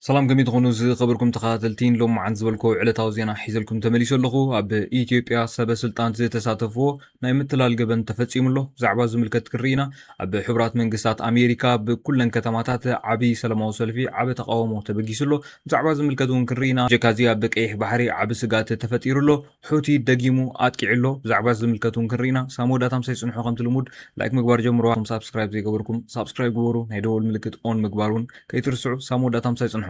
ሰላም ከመይ ትኾኑ ዝኸበርኩም ተኸታተልቲ ሎማዓንቲ ዝበልኩዎ ዕለታዊ ዜና ሒዘልኩም ተመሊሱ ኣለኹ ኣብ ኢትዮጵያ ሰበ ስልጣን ዝተሳተፍዎ ናይ ምትላል ገበን ተፈፂሙ ኣሎ ብዛዕባ ዝምልከት ክንርኢ ኢና ኣብ ሕቡራት መንግስታት ኣሜሪካ ብኩለን ከተማታት ዓብይ ሰላማዊ ሰልፊ ዓበ ተቃውሞ ተበጊሱ ኣሎ ብዛዕባ ዝምልከት እውን ክንርኢ ኢና ጀካዚ ኣብ ቀይሕ ባሕሪ ዓብ ስጋት ተፈጢሩ ኣሎ ሑቲ ደጊሙ ኣጥቂዑ ኣሎ ብዛዕባ እዚ ዝምልከት ውን ክንርኢና ሳብ መወዳእታ ምሳይ ጽንሑ ከምቲ ልሙድ ላይክ ምግባር ጀምርዋ እቶም ሳብስክራይብ ዘይገበርኩም ሳብስክራይብ ግበሩ ናይ ደወል ምልክት ኦን ምግባር ውን ከይትርስዑ ሳብ መወዳእታ ምሳይ ጽንሑ።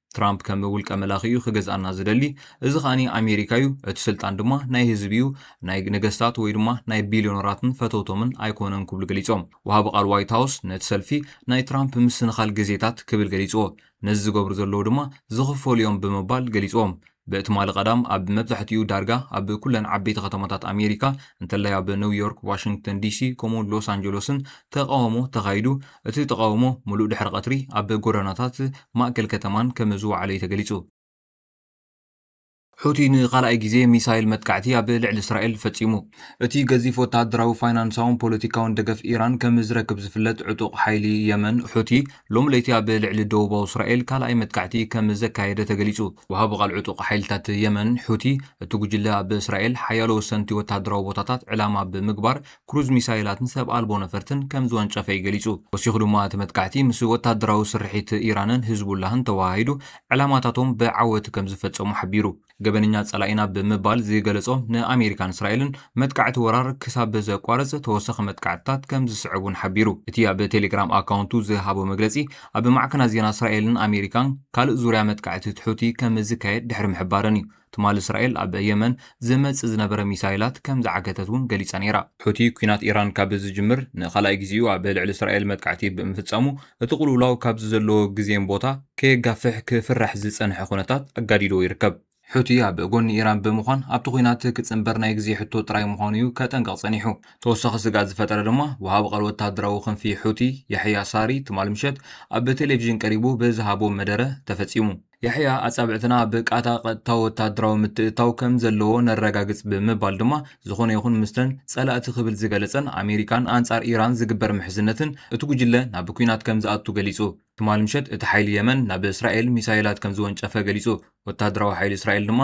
ትራምፕ ከም ውልቀ መላኺ እዩ ክገዝኣና ዝደሊ፣ እዚ ከኣ ኣሜሪካ እዩ፣ እቲ ስልጣን ድማ ናይ ህዝቢ እዩ፣ ናይ ነገስታት ወይ ድማ ናይ ቢልዮነራትን ፈተውቶምን ኣይኮነን ክብሉ ገሊጾም። ወሃቢ ቃል ዋይት ሃውስ ነቲ ሰልፊ ናይ ትራምፕ ምስንኻል ግዜታት ክብል ገሊጽዎ፣ ነዚ ዝገብሩ ዘለዉ ድማ ዝኽፈሉ እዮም ብምባል ገሊጽዎም። ብትማሊ ቀዳም ኣብ መብዛሕትኡ ዳርጋ ኣብ ኩለን ዓበይቲ ከተማታት ኣሜሪካ እንተላይ ኣብ ኒው ዮርክ፣ ዋሽንግተን ዲሲ ከምኡ'ውን ሎስ ኣንጀሎስን ተቓውሞ ተኻይዱ። እቲ ተቓውሞ ምሉእ ድሕሪ ቐትሪ ኣብ ጎደናታት ማእከል ከተማን ከም ዝወዓለ'ዩ ተገሊጹ። ሑቲ ንኻልኣይ ግዜ ሚሳይል መጥቃዕቲ ኣብ ልዕሊ እስራኤል ፈጺሙ። እቲ ገዚፍ ወተሃደራዊ፣ ፋይናንሳውን ፖለቲካውን ደገፍ ኢራን ከም ዝረክብ ዝፍለጥ ዕጡቕ ሓይሊ የመን ሑቲ፣ ሎሚ ለይቲ ኣብ ልዕሊ ደቡባዊ እስራኤል ካልኣይ መጥቃዕቲ ከም ዘካየደ ተገሊጹ። ወሃቢ ቓል ዕጡቕ ሓይልታት የመን ሑቲ፣ እቲ ጕጅለ ኣብ እስራኤል ሓያሎ ወሰንቲ ወተሃደራዊ ቦታታት ዕላማ ብምግባር ክሩዝ ሚሳይላትን ሰብ ኣልቦ ነፈርትን ከም ዝወንጨፈ'ዩ ገሊጹ። ወሲኹ ድማ እቲ መጥቃዕቲ ምስ ወተሃደራዊ ስርሒት ኢራንን ህዝቡላህን ተወሃሂዱ ዕላማታቶም ብዓወት ከም ዝፈጸሙ ሓቢሩ። ገበነኛ ጸላኢና ብምባል ዝገለጾ ንኣሜሪካን እስራኤልን መጥቃዕቲ ወራር ክሳብ ዘቋርጽ ተወሳኺ መጥቃዕትታት ከም ዝስዕብ እውን ሓቢሩ። እቲ ኣብ ቴሌግራም ኣካውንቱ ዝሃቦ መግለጺ፣ ኣብ ማዕከናት ዜና እስራኤልን ኣሜሪካን ካልእ ዙርያ መጥቃዕቲ ትሑቲ ከም ዝካየድ ድሕሪ ምሕባረን እዩ። ትማሊ እስራኤል ኣብ የመን ዝመጽእ ዝነበረ ሚሳይላት ከም ዝዓገተት እውን ገሊጻ ነይራ። ሑቲ ኲናት ኢራን ካብ ዝጅምር ንኻልኣይ ግዜኡ ኣብ ልዕሊ እስራኤል መጥቃዕቲ ብምፍጻሙ እቲ ቅልውላው ካብዚ ዘለዎ ግዜን ቦታ ከየጋፍሕ ክፍራሕ ዝጸንሐ ኩነታት ኣጋዲድዎ ይርከብ። ሑቲ ኣብ ጎኒ ኢራን ብምዃን ኣብቲ ኲናት ክጽንበር ናይ ግዜ ሕቶ ጥራይ ምዃኑ'ዩ ከጠንቅቕ ጸኒሑ። ተወሳኺ ስግኣት ዝፈጠረ ድማ ወሃቢ ቃል ወተሃደራዊ ክንፊ ሑቲ ያሕያ ሳሪ ትማል ምሸት ኣብ ቴሌቪዥን ቀሪቡ ብዝሃቦ መደረ ተፈጺሙ። ያሕያ ኣጻብዕትና ብቃታ ቀጥታዊ ወተሃደራዊ ምትእትታው ከም ዘለዎ ነረጋግጽ ብምባል ድማ ዝኾነ ይኹን ምስተን ጸላእቲ ክብል ዝገለጸን ኣሜሪካን ኣንጻር ኢራን ዝግበር ምሕዝነትን እቲ ጉጅለ ናብ ኲናት ከም ዝኣቱ ገሊጹ። ትማሊ ምሸት እቲ ሓይሊ የመን ናብ እስራኤል ሚሳይላት ከም ዝወንጨፈ ገሊጹ። ወተሃደራዊ ሓይሊ እስራኤል ድማ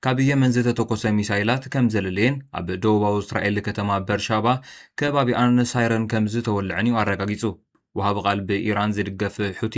ካብ የመን ዝተተኮሰ ሚሳይላት ከም ዘለለየን ኣብ ደቡባዊ እስራኤል ከተማ በርሻባ ከባቢኣን ሳይረን ከም ዝተወልዐን'ዩ ኣረጋጊጹ። ወሃቢ ቃል ብኢራን ዝድገፍ ሑቲ፣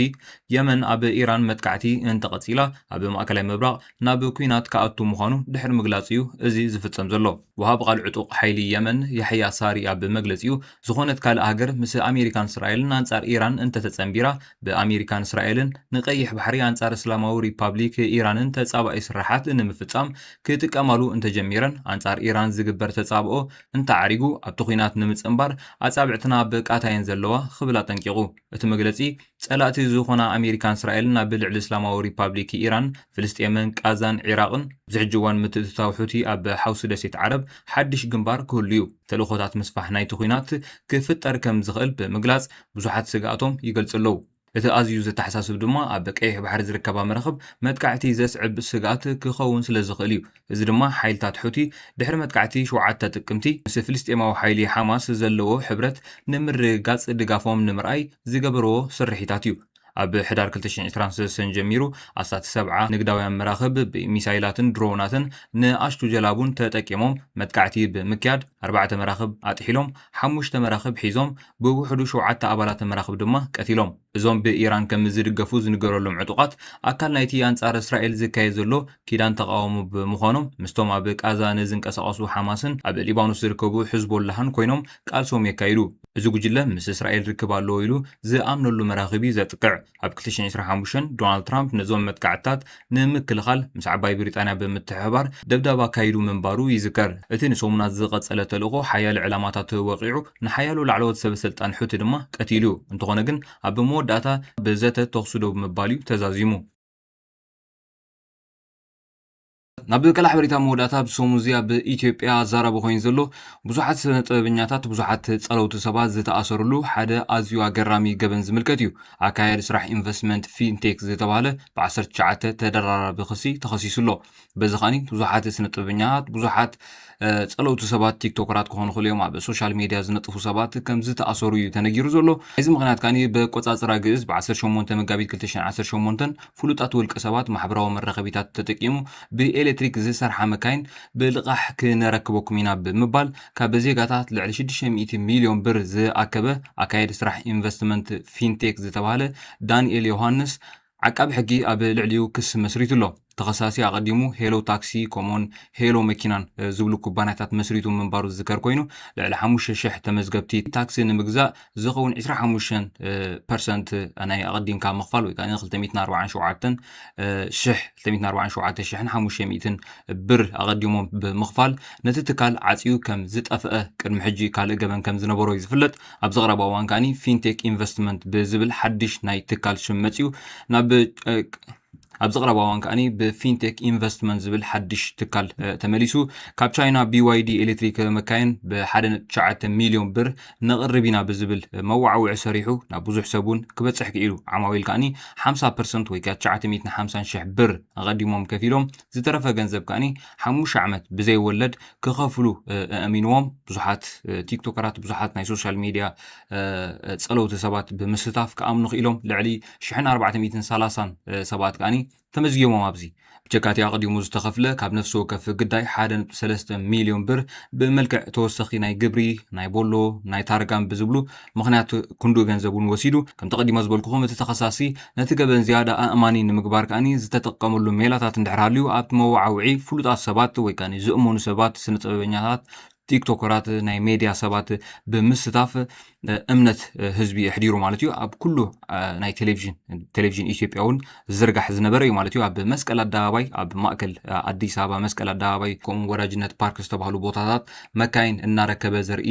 የመን ኣብ ኢራን መጥቃዕቲ እንተቐጺላ ኣብ ማእከላይ ምብራቕ ናብ ኲናት ክኣቱ ምዃኑ ድሕሪ ምግላጹ'ዩ እዚ ዝፍጸም ዘሎ። ወሃቢ ቃል ዕጡቕ ሓይሊ የመን ያሕያ ሳሪ ኣብ መግለጺኡ፣ ዝኾነት ካልእ ሃገር ምስ ኣሜሪካን እስራኤልን ኣንጻር ኢራን እንተተጸንቢራ፣ ብኣሜሪካን እስራኤልን ንቀይሕ ባሕሪ ኣንጻር እስላማዊ ሪፓብሊክ ኢራንን ተጻባኢ ስርሓት ንምፍጻም ክጥቀማሉ እንተጀሚረን ኣንጻር ኢራን ዝግበር ተጻብኦ እንተዓሪጉ ኣብቲ ኲናት ንምጽንባር ኣጻብዕትና ኣብ ቃታ እየን ዘለዋ ክብል ኣጠንቂቑ። እቲ መግለጺ፣ ጸላእቲ ዝዀና ኣመሪካን እስራኤልን ኣብ ልዕሊ እስላማዊ ሪፓብሊክ ኢራን፣ ፍልስጤምን ቓዛን ዒራቕን፣ ኣብዚ ሕጂ እዋን ምትእትታው ሑቲ ኣብ ሓውሲ ደሴት ዓረብ ሓድሽ ግንባር ክህሉ'ዩ። ተልእኾታት ምስፋሕ ናይቲ ኲናት ክፍጠር ከም ዝኽእል ብምግላጽ ብዙሓት ስግኣቶም ይገልጹ ኣለዉ። እቲ ኣዝዩ ዘተሓሳስብ ድማ ኣብ ቀይሕ ባሕሪ ዝርከባ መራኽብ መጥቃዕቲ ዘስዕብ ስግኣት ክኸውን ስለ ዝኽእል እዩ። እዚ ድማ ሓይልታት ሑቲ ድሕሪ መጥቃዕቲ ሸውዓተ ጥቅምቲ ምስ ፍልስጤማዊ ሓይሊ ሓማስ ዘለዎ ሕብረት ንምርግጋጽ ድጋፎም ንምርኣይ ዝገበርዎ ስርሒታት እዩ። ኣብ ሕዳር ክልተ ሽሕን ዕስራን ሰሰን ጀሚሩ ኣስታት ሰብዓ ንግዳውያን መራኽብ ብሚሳይላትን ድሮናትን ንኣሽቱ ጀላቡን ተጠቂሞም መጥቃዕቲ ብምክያድ ኣርባዕተ መራኽብ ኣጥሒሎም ሓሙሽተ መራኽብ ሒዞም፣ ብውሕዱ ሸውዓተ ኣባላተ መራኽብ ድማ ቀቲሎም። እዞም ብኢራን ከም ዝድገፉ ዝንገረሎም ዕጡቓት፣ ኣካል ናይቲ ኣንጻር እስራኤል ዝካየድ ዘሎ ኪዳን ተቓውሞ ብምዃኖም፣ ምስቶም ኣብ ቓዛ ንዝንቀሳቐሱ ሓማስን ኣብ ሊባኖስ ዝርከቡ ሕዝቦላህን ኮይኖም ቃልሶም የካይዱ። እዚ ጉጅለ ምስ እስራኤል ርክብ ኣለዎ ኢሉ ዝኣምነሉ መራኽብ እዩ ዘጥቅዕ። ኣብ ክልተ ሽሕን ዕስራን ሓሙሽተን፣ ዶናልድ ትራምፕ ነዞም መጥቃዕትታት ንምክልኻል ምስ ዓባይ ብሪጣንያ ብምትሕብባር ደብዳብ ኣካይዱ ምንባሩ ይዝከር። እቲ ንሰሙናት ዝቐጸለ ተልእኾ ሓያለ ዕላማታቱ ወቒዑ፣ ንሓያሎ ላዕለዎት ሰበስልጣን ሑቲ ድማ ቀቲሉ። እንተዀነ ግን ኣብ መወዳእታ ብዘተ ተዅሲ ደው ብምባል'ዩ ተዛዚሙ። ናብ ቀላዕ በሪታ መወዳእታ ኣብ ሰሙን እዚ ኣብ ኢትዮጵያ ኣዛራቢ ኮይኑ ዘሎ ብዙሓት ስነ ጥበበኛታት ብዙሓት ጸለውቲ ሰባት ዝተኣሰርሉ ሓደ ኣዝዩ ኣገራሚ ገበን ዝምልከት እዩ። ኣካያዲ ስራሕ ኢንቨስትመንት ፊንቴክ ዝተባህለ ብ19 ተደራራቢ ክሲ ተኸሲሱ ኣሎ። በዚ ከኣ ብዙሓት ስነ ጥበበኛታት ብዙሓት ጸለውቲ ሰባት ቲክቶከራት ክኾኑ ይኽእሉ እዮም ኣብ ሶሻል ሜድያ ዝነጥፉ ሰባት ከም ዝተኣሰሩ እዩ ተነጊሩ ዘሎ እዚ ምክንያት ከኣ በቆጻጽራ ግእዝ ብ18 መጋቢት 2018 ፍሉጣት ውልቀ ሰባት ማሕበራዊ መራኸቢታት ተጠቂሙ ብኤሌክትሪክ ዝሰርሓ መካይን ብልቓሕ ክነረክበኩም ኢና ብምባል ካብ ዜጋታት ልዕሊ 600 ሚልዮን ብር ዝኣከበ ኣካየዲ ስራሕ ኢንቨስትመንት ፊንቴክ ዝተባህለ ዳንኤል ዮሃንስ ዓቃቢ ሕጊ ኣብ ልዕሊኡ ክሲ መስሪቱ ኣሎ። ተኸሳሲ ኣቐዲሙ ሄሎ ታክሲ ከምኡውን ሄሎ መኪናን ዝብሉ ኩባንያታት መስሪቱ ምንባሩ ዝዝከር ኮይኑ፣ ልዕሊ ሓሙሽተ ሽሕ ተመዝገብቲ ታክሲ ንምግዛእ ዝኸውን ዕስራ ሓሙሽተ ፐርሰንት ናይ ኣቐዲምካ ምኽፋል ወይ ከኣ ክልተ ሚእትን ኣርብዓን ሸውዓተን ሽሕ ክልተ ሚእትን ኣርብዓን ሸውዓተ ሽሕን ሓሙሽተ ሚእትን ብር ኣቐዲሞም ብምኽፋል ነቲ ትካል ዓጽዩ ከም ዝጠፍአ ቅድሚ ሕጂ ካልእ ገበን ከም ዝነበሮ እዩ ዝፍለጥ። ኣብዚ ቐረባ እዋን ከኣኒ ፊንቴክ ኢንቨስትመንት ብዝብል ሓድሽ ናይ ትካል ሽም መፅዩ ናብ ኣብዚ ቐረባ እዋን ከኣኒ ብፊንቴክ ኢንቨስትመንት ዝብል ሓድሽ ትካል ተመሊሱ ካብ ቻይና ቢዋይዲ ኤሌክትሪክ መካየን ብሓደ ነጥቢ ትሽዓተ ሚልዮን ብር ነቕርብ ኢና ብዝብል መወዓውዒ ሰሪሑ ናብ ብዙሕ ሰብ እውን ክበፅሕ ክኢሉ ዓማዊል ከኣኒ ሓምሳ ፐርሰንት ወይ ከዓ ትሽዓተ ሚእትን ሓምሳን ሽሕ ብር ኣቐዲሞም ከፊሎም ዝተረፈ ገንዘብ ከኣኒ ሓሙሽተ ዓመት ብዘይወለድ ክኸፍሉ ኣእሚንዎም ብዙሓት ቲክቶከራት ብዙሓት ናይ ሶሻል ሚድያ ፀለውቲ ሰባት ብምስታፍ ክኣምኑ ክኢሎም ልዕሊ 1430 ሰባት ከዓኒ ተመዝጊቦም ኣብዚ ብጀካቲ ኣቕዲሙ ዝተኸፍለ ካብ ነፍሲ ወከፍ ግዳይ 1.3 ሚሊዮን ብር ብመልክዕ ተወሰኺ ናይ ግብሪ ናይ ቦሎ ናይ ታርጋን ብዝብሉ ምኽንያቱ ክንዱ ገንዘብ እውን ወሲዱ። ከምቲ ቀዲመ ዝበልኩኹም እቲ ተኸሳሲ ነቲ ገበን ዝያዳ ኣእማኒ ንምግባር ከኣ ዝተጠቀመሉ ሜላታት እንድሕር ሃልዩ ኣብቲ መወዓውዒ ፍሉጣት ሰባት ወይ ከኣ ዝእመኑ ሰባት ስነጥበበኛታት ቲክቶከራት ናይ ሜድያ ሰባት ብምስታፍ እምነት ህዝቢ የሕዲሩ ማለት እዩ ኣብ ኩሉ ናይ ቴሌቭዥን ቴሌቭዥን ኢትዮጵያ እውን ዝዝርጋሕ ዝነበረ እዩ ማለት እዩ። ኣብ መስቀል ኣደባባይ፣ ኣብ ማእከል ኣዲስ ኣበባ መስቀል ኣደባባይ ከምኡ ወዳጅነት ፓርክ ዝተባህሉ ቦታታት መካይን እናረከበ ዘርኢ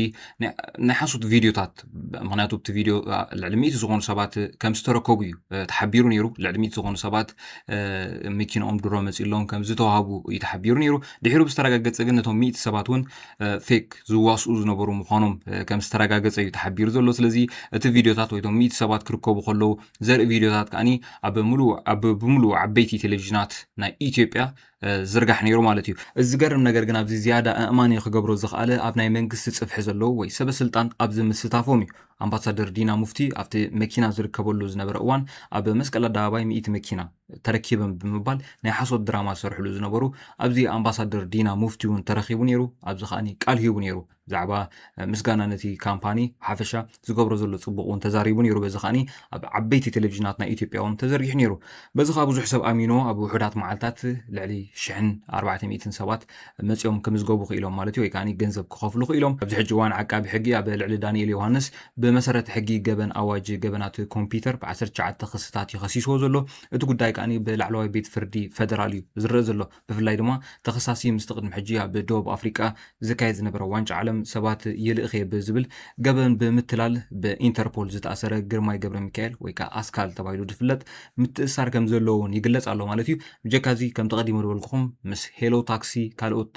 ናይ ሓሶት ቪድዮታት ምክንያቱ ኣብቲ ቪድዮ ልዕሊ ሚእቲ ዝኾኑ ሰባት ከም ዝተረከቡ እዩ ተሓቢሩ ነይሩ። ልዕሊ ሚእቲ ዝኾኑ ሰባት መኪናኦም ድሮ መፂሎም ከም ዝተዋህቡ እዩ ተሓቢሩ ነይሩ። ድሒሩ ብዝተረጋገፀ ግን ነቶም ሚእቲ ሰባት እውን ፌክ ዝዋስኡ ዝነበሩ ምዃኖም ከም ዝተረጋገፀ እዩ ተሓቢሩ ዘሎ። ስለዚ እቲ ቪድዮታት ወይ እቶም ሚእቲ ሰባት ክርከቡ ከለዉ ዘርኢ ቪድዮታት ከዓኒ ኣብ ምሉእ ኣብ ብምሉእ ዓበይቲ ቴሌቭዥናት ናይ ኢትዮጵያ ዝርጋሕ ነይሩ ማለት እዩ እዚ ዝገርም ነገር ግን ኣብዚ ዝያዳ ኣእማኒ ክገብሮ ዝኽኣለ ኣብ ናይ መንግስቲ ጽፍሒ ዘለዉ ወይ ሰበ ስልጣን ኣብዚ ምስታፎም እዩ ኣምባሳደር ዲና ሙፍቲ ኣብቲ መኪና ዝርከበሉ ዝነበረ እዋን ኣብ መስቀል ኣደባባይ ሚእቲ መኪና ተረኪበን ብምባል ናይ ሓሶት ድራማ ዝሰርሕሉ ዝነበሩ ኣብዚ ኣምባሳደር ዲና ሙፍቲ እውን ተረኪቡ ነይሩ ኣብዚ ከዓኒ ቃል ሂቡ ነይሩ ብዛዕባ ምስጋና ነቲ ካምፓኒ ሓፈሻ ዝገብሮ ዘሎ ጽቡቕ እውን ተዛሪቡ ነይሩ በዚ ከኣ ኣብ ዓበይቲ ቴሌቭዥናት ናይ ኢትዮጵያ እውን ተዘርጊሑ ነይሩ በዚ ከኣ ብዙሕ ሰብ ኣሚኖ ኣብ ውሑዳት መዓልታት ልዕሊ ሽሕን ኣርባዕተ ሚእትን ሰባት መጺኦም ክምዝገቡ ክኢሎም ማለት እዩ ወይ ከኣ ገንዘብ ክኸፍሉ ክኢሎም ኣብዚ ሕጂ እዋን ዓቃቢ ሕጊ ኣብ ልዕሊ ዳንኤል ዮሃንስ ብመሰረት ሕጊ ገበን ኣዋጅ ገበናት ኮምፒተር ብ19 ክስታት ይኸሲስዎ ዘሎ እቲ ጉዳይ ከኣ ብላዕለዋይ ቤት ፍርዲ ፈደራል እዩ ዝረእ ዘሎ ብፍላይ ድማ ተኸሳሲ ምስቲ ቅድሚ ሕጂ ኣብ ደቡብ ኣፍሪቃ ዝካየድ ዝነበረ ዋንጫ ዓለም ሰባት ይልእኽ'የ ብዝብል ገበን ብምትላል ብኢንተርፖል ዝተኣሰረ ግርማይ ገብረሚካኤል ወይ ከኣ ኣስካል ተባሂሉ ዝፍለጥ ምትእስሳር ከም ዘለዎ'ውን ይግለጽ ኣሎ ማለት እዩ። ብጀካ'ዚ ከምቲ ቀዲመ ዝበልኩኹም ምስ ሄሎ ታክሲ ካልኦት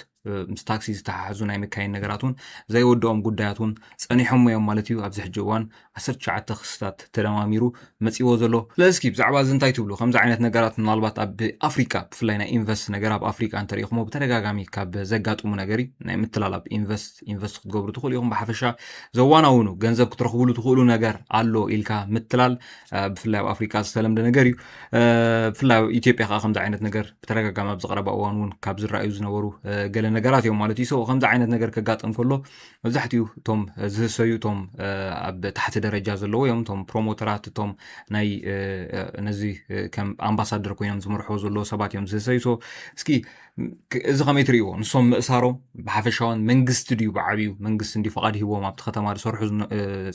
ምስ ታክሲ ዝተሓሓዙ ናይ መካይን ነገራት እውን ዘይወድኦም ጉዳያት እውን ጸኒሖም'ዮም ማለት እዩ። ኣብዚ ሕጂ እዋን ዓሰርተ ትሽዓተ ክስታት ተደማሚሩ መጺዎ ዘሎ ስለዚ እስኪ ብዛዕባ እዚ እንታይ ትብሉ ከምዚ ዓይነት ነገራት ምናልባት ኣብ ኣፍሪቃ ብፍላይ ናይ ኢንቨስት ነገር ኣብ ኣፍሪቃ እንተሪኢኹሞ ብተደጋጋሚ ካብ ዘጋጥሙ ነገር እዩ ናይ ምትላል ኣብ ኢንቨስት ኢንቨስት ክትገብሩ ትኽእሉ ኢኹም ብሓፈሻ ዘዋናውኑ ገንዘብ ክትረኽብሉ ትኽእሉ ነገር ኣሎ ኢልካ ምትላል ብፍላይ ኣብ ኣፍሪቃ ዝተለምደ ነገር እዩ ብፍላይ ኣብ ኢትዮጵያ ከዓ ከምዚ ዓይነት ነገር ብተደጋጋሚ ኣብ ዝቀረባ እዋን እውን ካብ ዝረኣዩ ዝነበሩ ገለ ነገራት እዮም ማለት እዩ ሰው ከምዚ ዓይነት ነገር ከጋጥም ከሎ መብዛሕትኡ እቶም ዝህሰዩ እቶም ኣብ ታሕቲ ደረጃ ዘለዎ እዮም እቶም ፕሮሞተራት እቶም ናይ ነዚ ከም ኣምባሳደር ኮይኖም ዝመርሕዎ ዘለዎ ሰባት እዮም ዝህሰዩ ሶ እስኪ እዚ ከመይ ትርእይዎ ንሶም ምእሳሮም ብሓፈሻውን መንግስቲ ድዩ ብዓብዩ መንግስቲ እንዲ ፍቓድ ሂቦም ኣብቲ ከተማ ዝሰርሑ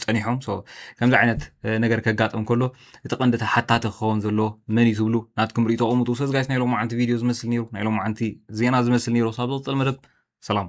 ፀኒሖም ሶ ከምዚ ዓይነት ነገር ከጋጥም ከሎ እቲ ቀንዲ ተሓታቲ ክኸውን ዘለዎ መን እዩ ትብሉ ናትኩም ርእቶ ቐምጡ ሰዚ ጋይስ ናይ ሎማዓንቲ ቪድዮ ዝመስል ነይሩ ናይ ሎማዓንቲ ዜና ዝመስል ነይሩ ሳብ ዝቕፅል መደብ ሰላም